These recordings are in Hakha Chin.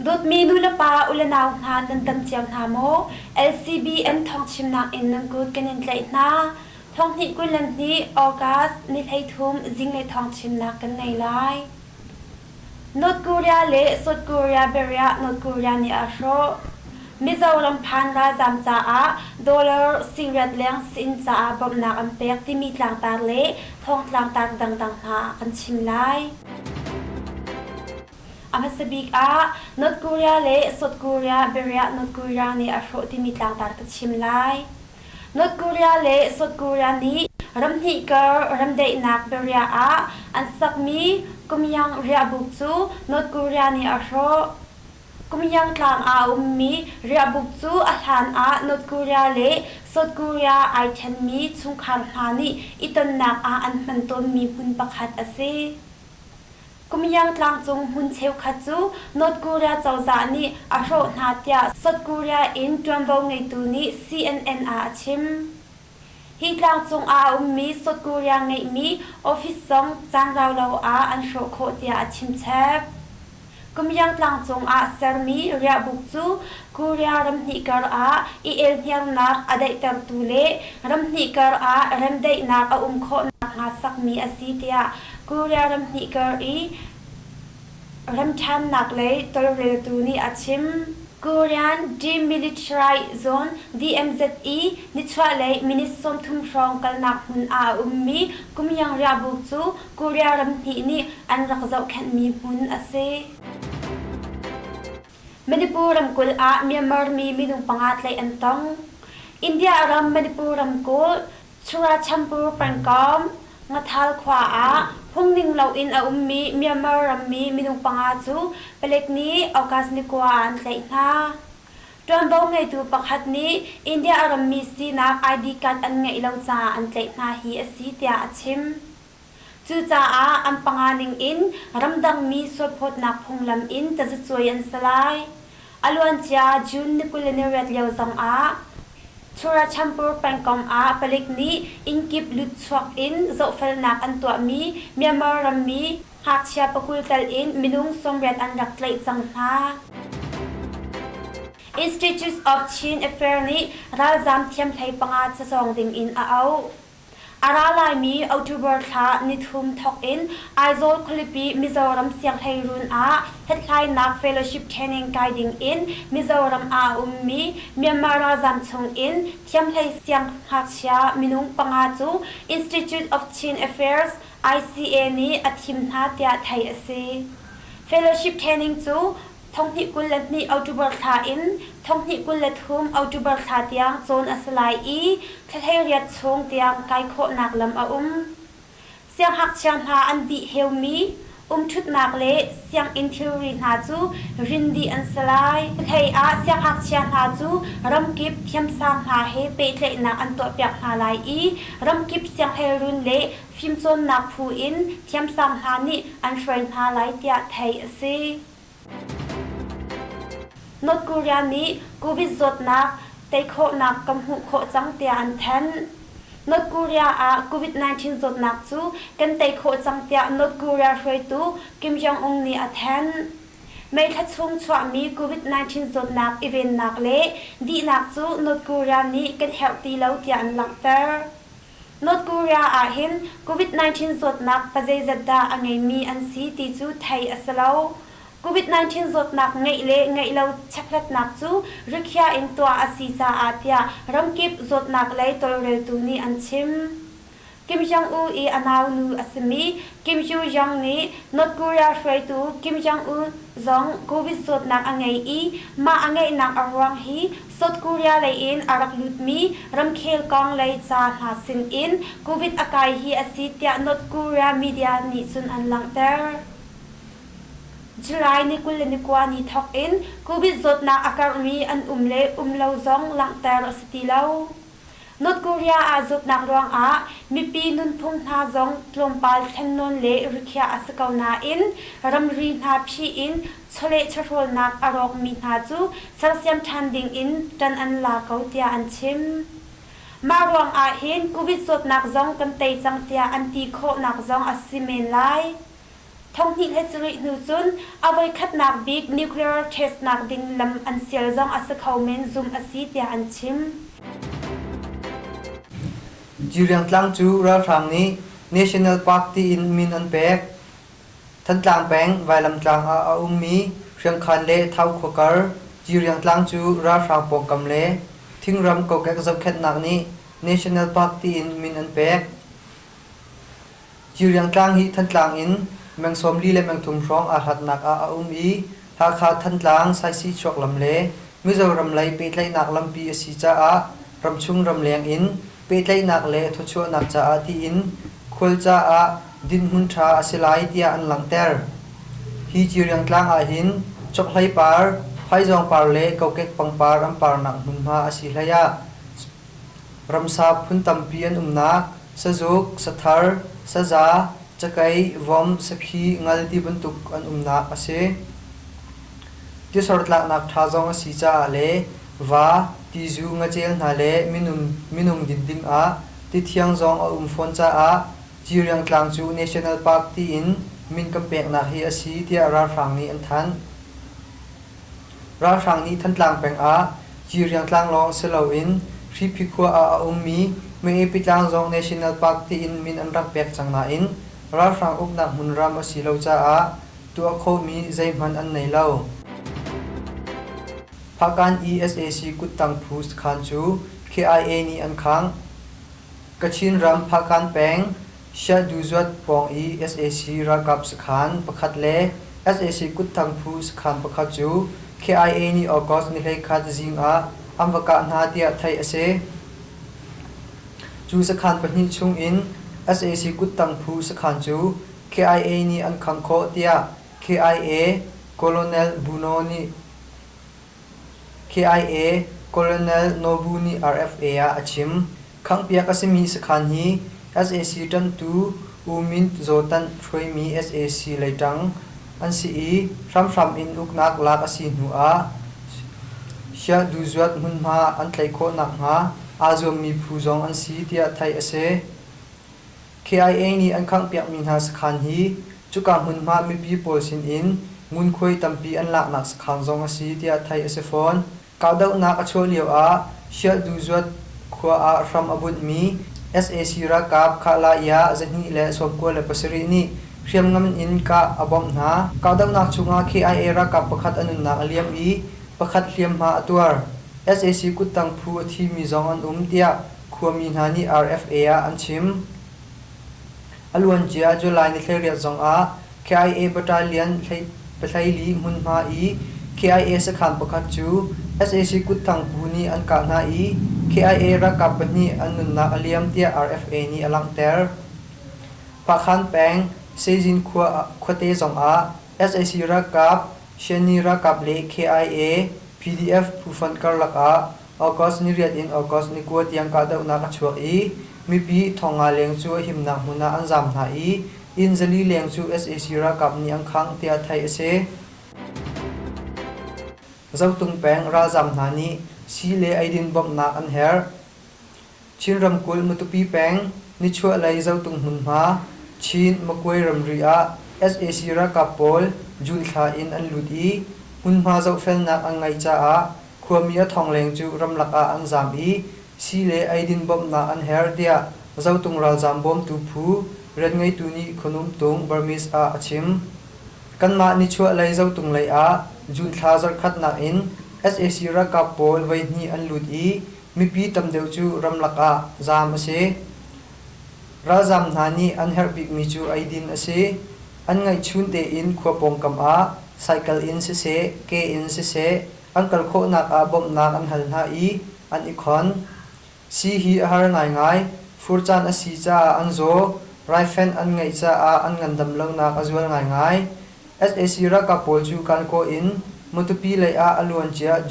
Dawtmi nulepa u le nau hna nan tam cio hna maw? LCBN thawngchimnak in nan kut kan in tlaih hna. Thonghnih kul le hnih August ni hleithum zing le thawng chimnak kan ngei lai. North Korea le South Korea biariah North Korea nih a hrawh. Mizoram phan ralzaam caah dollar singriat leng sin caah bawmhnak an pek timi tlangtar le thawng tlangtar dangdang hna kan chim lai. A hmasa bik ah North Korea le South Korea biariah North Korea nih a hrawh timi tlangtar ka chim lai. North Korea le South Korea nih ram hnih kar remdaihnak biariah ah an sakmi Kumyang riahbuk cu North Korea nih a hrawh. Kumyang tlang ah a ummi riahbuk cu a hlan ah North Korea le South Korea ai ṭhenmi chungkhar hna nih i tonnak ah an hman tawnmi hmun pakhat a si. Kumiang tlangcung hmun cheukhat cu North Korea cozah nih a hrawh hna tiah South Korea in ṭuanvo ngeitu nih CNN ah a chim. Hi tlangcung ah a ummi South Korea ngeihmi office zong caan rau lo ah an hrawh khawh tiah a chimchep. Kumiang tlangcung ah sermi riahbuk cu Korea ramhnih karah i elhniamnak a daihtertu le ramhnih karah remdaihnak a um khawh nakhnga sakmi a si tiah Korea ramhnih kar i remṭhannak lei tolreltu nih a chim. Korean demilitarized zone DMZE nichuahlei minute sawmthum hrawng kalnak hmun ah a ummi Kumyang-ryabu cu Korea ramhnih nih an rak zohkhenhmi hmun a si. Manipur ramkulh ah Myanmar mi minung panga tlaih an tong. India ram Manipur ramkulh Churachandpur pengkawm Ngathal khua ah phungning loin a ummi Myanmar rammi minung panga cu palek nih August ni kua ah an tlaih hna. Ṭuanvo ngeitu pakhat nih India a rammi sinak ID card an ngeih lo caah an tlaih hna hi a si tiah a chim. Cucaah an panga ningin ramdangmi sualphawtnak phunglam in tazacuai an si lai. A luancia June ni kul le ni riat lio zongah Churachandpur pengkomh ah palik nih innkip lutchuak in zohfelnak an tuahmi Myanmar rammi ngakchia pakul tal in minung sawmriat an rak tlaih cang hna. Institute of Chin Affairs nih ralzaam thiamhlei panga cazawng dingin a auh. A ra laimi October thla nithum thawk in Aizawl khualipi Mizoram sianghleirun ah Hlathlainak Fellowship Training kai ding in Mizoram ah a ummi Myanmar ralzam chungin Thiamhlei sianghngakchia minung panga cu Institute of Chin Affairs, ICA, nih a thim hna tiah theih a si. Fellowship training cu Thonghnih kul le hnih October thla in thonghnih kul le thum October thla tiang cawn a si lai i thlahleng riat chung tiang kai khawhnak lam a um. Sianghngakchia hna an dih heumi umṭhutnak le sianginn thilri hna cu rin dih an si lai. Hlei ah sianghngakchia hna cu ramkip thiamsang hna he pehtlaihnak an tuahpiak hna lai i ramkip sianghleirun le fimcawnnak phu in thiamsang hna nih an hruai hna lai tiah theih a si. North Korea nih Covid zawtnak tei khawhnak kan hmuh khawh cang tiah an thanh. North Korea ah COVID-19 zawtnak cu kan tei khawh cang tiah North Korea hruaitu Kim Jong-un nih a thanh. May thla chung chuahmi COVID-19 zawtnak i vennak le dihnak cu North Korea nih kan herh ti lo tiah an langhter. North Korea ahhin COVID-19 zawtnak pazeizat dah a ngeimi an si ti cu theih a si lo. COVID-19 zawtnak ngeih le ngeih lo checkhlatnak cu rikhiah in tuah a si caah tiah ramkip zawtnak lei tawlreltu nih an chim. Kim Jong-un i a naunu a simi Kim Yoo-young nih North Korea hruaitu Kim Jong-un zong COVID zawtnak a ngei i mah a ngeihnak a ruang hi South Korea lei in a rak lutmi ramkhel kong lei ca hna sin in Covid a kai hi a si tiah North Korea media nih cun an langhter. July ni kul le ni kua ni thawk in Covid zawtnak a karhmi an um le um lo zong langhter a si ti lo. North Korea aa zawtnak ruangah mipi nunphung hna zong tlawmpal thlennawn le rikhiah a si ko nain ramri hna phih in chawleh-chawhrawlnak a rawkmi hna cu sersiam ṭhan dingin ṭan an la ko tiah an chim. Mah ruangah hin Covid zawtnak zong kan tei cang tiah an ti khawhnak zong a si men lai. Thanhnih he carih hnu cun a voikhatnak bik nuclear test nak ding lam an sial zong a si kho men zumh a si tiah an chim. Jiriang Tlang cu ralhrang nih National Park tiin min an pek. Thantlang peng Vailamtlang ah a ummi Hriangkhan le Thau khuakar Jiriang Tlang cu ralhrang pawngkam le thingram kokek zohkhenhnak nih National Park tiin min an pek. Ciriang tlang hi Thantlang in meng sawm li le meng thum hrawng aa hlatnak ah a um i Hakha Thantlang, Saisihchuak lam le Mizoram lei pehtlaihnak lampi a si caah ramchung ramleng in pehtlaihnak le thawchuahnak caah tiin khual caah dinhmun ṭha a si lai tiah an langhter. Hi Ciriang tlang ahhin chokhlei par, phaizawng par le kokek pangpar an parnak hmunhma a si hlei ah Ramsa phun tampi an umnak, sazuk, sathar, saza, cakei, vom, sakhi, ngal ti bantuk an umnak a si. Tisor tlaknak ṭha zong a si caah le va, tizu, ngacel hna le minung, minung dit ding ah tithiang zong a um fawn caah Ciriang Tlang cu National Park tiin min kan peknak hi a si tiah ralhrang nih an thanh. Ralhrang nih Thantlang peng ah Ciriang tlang lawng si loin Hriphi khua ah a ummi Myepi tlang zong National Park tiin min an rak pek cang nain ralhrang uknak hmunram a si lo caah tuah khawhmi zeihmanh an nei lo. Phahkan ESAC kuttang phu sakhan cu KIA nih an khangh. Kachin ram Phahkan peng Siaduzwat pawng i sac ralkap sakhan pakhat le sac kutthang phu sakhan pakhat cu KIA nih August nihleikhat zing ah an va kah hna tiah theih a si. Cu sakhan pahnih chung in sac kutthang phu sakhan cu KIA nih an khangh khawh tiah KIA Colonel Buno nih KIA Colonel Nobu nih RFA ah a chim. Khanghpiak a simi sakhan hi sac ṭanhtu U Myint Zaw Tanh hruaimi sac lei ṭang an si i hramhram in uknak lak a si hnuah Shyahduzuat hmunhma an tlaih khawh nakhnga aa zuammi phu zong an si tiah theih a si. KIA nih an khanghpiakmi hna sakhaan hi cuka hmunhma mipi pawl sinin ngunkhuai tampi an laknak sakhaan zong a si tiah theih a si fawn. Kahdohnak a chuah lioah Shialduzhuat khua ah hram a bunhmi sac ralkap Kahlai ah zahnih le sawmkua le pasarih nih hriamngan in kah a bawmh hna. Kahdohnak chungah KIA ralkap pakhat a nunnak a liam i pakhat hliamhma a tuar. Sac kuttang phu a thimi zong an um tiah Khuami hna nih RFA ah an chim. A luancia July ni thleiriat zongah KIA Battalion Pathlaili hmunhma i KIA sakhan pakhat cu sac kutthangpu nih an kah hna i KIA ralkap pahnih an nunnak a liam tiah RFA nih a langhter. Phakhan peng Seizin khuate zongah sac ralkap, Shanni ralkap le KIA PDF phu fonh karlak ah August ni riat in August ni kua tiang kahdohnak a chuak i mipi Thonga leng cu a himnak hmun ah an zaam hna i Innzali leng cu sac ralkap nih an khangh tiah theih a si. Zotung peng ralzaam hna nih sii le eidin bawmhnak an herh. Chin ramkulh Matupi peng nichuahlei Zotung hmunhma Chin Makwe ramri ah sac ralkap pawl June thla in an lut i hmunhma zohfelnak an ngeih caah khuami a thongleng cu ramlak ah an zaam i sii le eidin bawmhnak an her tiah Zotung ralzaam bawmtu phu rianngeitu nih Khonum Tung Burmese ah a chim. Kanmah nichuahlei Zotung lei ah June thla zarhkhatnak in sac ralkap pawl voihnih an lut i Mipi tam deuh cu ramlak ah zaam a si. Ralzaam hna nih an herh bikmi cu eidin a si. An ngaihchun tein khua pawngkam ah cycle in siseh, ke in siseh an kal khawhnak ah bawmhnak an hal hna i an i khon. Sii hi a har ngaingai. Fur caan a si caah an zaw. Raifenh an ngeih caah an ngandam lonak a zual ngaingai. sac ralkap pawl cu Kalkaw in Matupi lei ah a luancia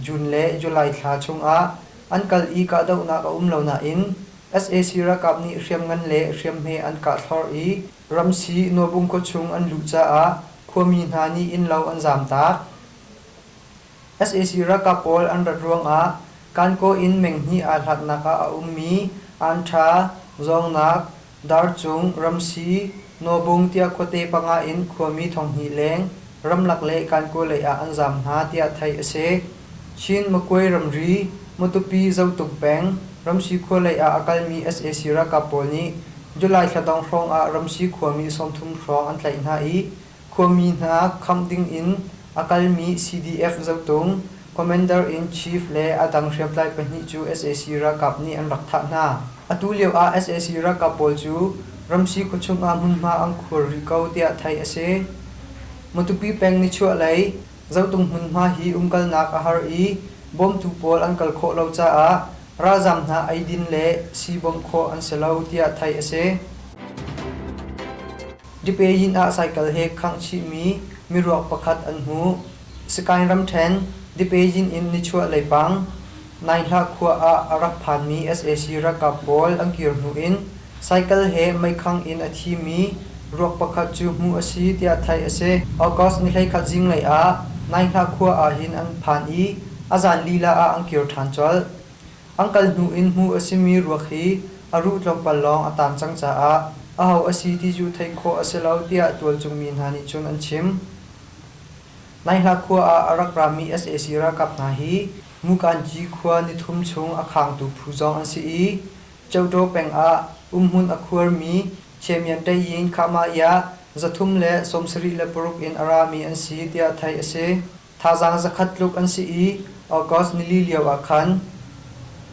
June le July thla chungah an kal i kahdohnak a um lo nain sac ralkap nih hriamngan le hriamhme an kah thlorh i Ramsi Nuabung khua chung an luh caah khuami hna nih innlo an zamtak. sac ralkap pawl an rat ruangah Kankaw in meng hnih aa hlaknak ah a ummi Anṭha, Zawngnak, Darchung, Ramsi, Nawbung tiah khuate panga in khuami thonghnih leng ramlak le Kankaw lei ah an zaam hna tiah theih a si. Chin Makwe ramri, Matupi Zotung peng, Ramsi khua lei ah a kalmi sac ralkap pawl nih July thla dong hrawng ah Ramsi khuami sawmthum hrawng an tlaih hna i Khuami hna khamh dingin a kalmi CDF zotung, Commander in Chief le a dang hriamtlai pahnih cu sac ralkap nih an rak thah hna. Atu lio ah sac ralkap pawl cu ramsi khuachung ah hmunhma an khuar rih ko tiah theih a si. Matupi peng nichuahlei zotung hmunhma hi umkalnak a har i bawmtu pawl an kal khawh lo caah ralzaam hna eidin le sii bawmh khawh an si lo tiah theih a si. Dipeyin ah cycle he khangchihmi miruak pakhat an hmuh. Sagaing ramṭhen Dipeyin in nichuah leipang Naihlah khua ah a rak phanmi sac ralkap pawl an kir hnu in cycle he meikhang in a thimi ruak pakhat cu hmuh a si tiah theih a si. August ni hleikhat zinglei ah Naihlah khua ah hin an phan i a zan lila ah an kir ṭhan colh. An kal hnu in hmuh a simi ruak hi a ruh tlawmpal lawng a taang cang caah aho a si ti cu theih khawh a si lo tiah tualchungmi hna nih cun an chim. Naihla khua ah a rak rami sac ralkap hna hi Mukanji khua nithum chung a khangtu phu zong an si i Ceuṭaw peng ah umhmun a khuarmi Chemian Ṭeyin Khahmahya za thum le sawmsarih le paruk in a rami an si tiah theih a si. Thazaang zakhat tluk an si i August nili lio ah khan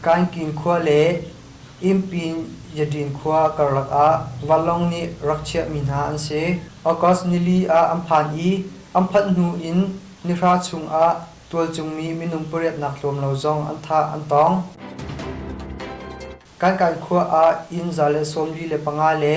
Kainkin khua le Impin-Yaṭin khua karlak ah vanlawng nih rak chiahmi hna an si. August nili ah an phan i an phanh hnu in nihra chungah tualcungmi minung pariatnak tlawm lo zong an thah an tawng. Kainkin khua ah inn za le sawm li le panga le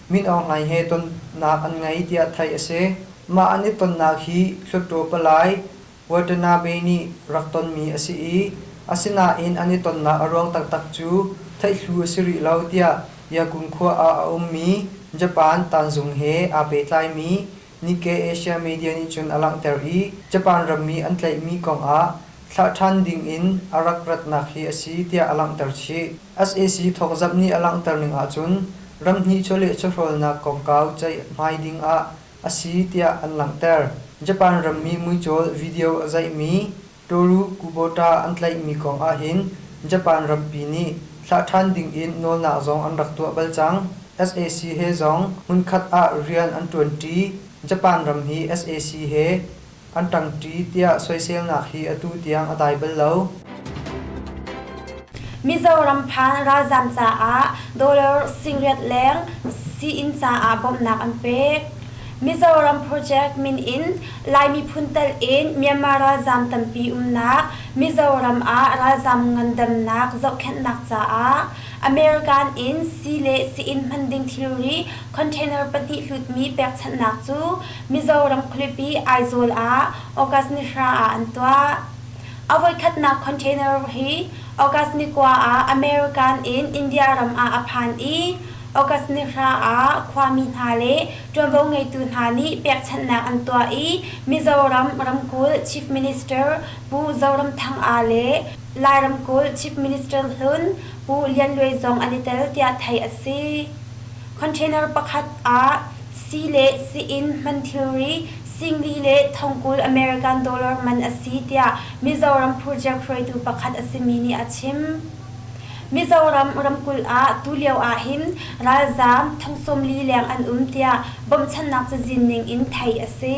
mit awng hlai he tonnak an ngei tiah theih a si. Mah an i tonnak hi Hluttaw palai Watana Bay nih rak tonmi a si i asinain an i tonnak a ruang taktak cu theihlu a si rih lo tiah Yakum khua ah a ummi Japan tanzung he aa pehtlaimi Nikkei Asia media nih cun a langhter i Japan rammi an tlaihmi kongah thlah ṭhan dingin a rak ratnak hi a si tiah a langhter chih. SAC thawkzamh nih a langhterning ahcun ram hnih chawleh chawhrawlnak kongkau ceihhmai dingah a si tiah an langhter. Japan rammi muicawl video a zeihmi Toru Kubota an tlaihmi kong ahhin Japan rampi nih thlah ṭhan dingin nawlnak zong an rak tuah bal cang. sac he zong hmunkhat ah rian an ṭuanṭi. Japan ram hi sac he an ṭangṭi tiah soiselnak hi atu tiang a dai bal lo. Mizoram phan ralzam caah dollar singriat leng sii-inn caah bawmhnak an pek. Mizoram project min in Lai miphun tal in Myanmar ralzam tampi umnak Mizoram ah ralzam ngandamnak zohkhenhnak caah American in sii le sii-inn hman ding thilri container pahnih hlutmi pekchanhnak cu Mizoram khualipi Aizawl ah August ni hra ah an tuah. A voikhatnak container hi August ni kua ah American in India ram ah a phan i August ni hra ah khuami hna le ṭuanvo ngeitu hna nih pekchanhnak an tuah i Mizoram ramkulh Chief Minister Pu Zoramthanga le Lai ramkulh Chief Minister hlun Pu Lian Luai zong an i tel tiah theih a si. Container pakhat ah sii le sii-inn hman thilri Singli le Thongkul American dollar man a si tiah Mizoram project hruaitu pakhat a simi nih a chim. Mizoram ramkulh ah tulio ahhin ralzaam thong sawmli leng an um tiah bawmhchannak cazin ning in theih a si.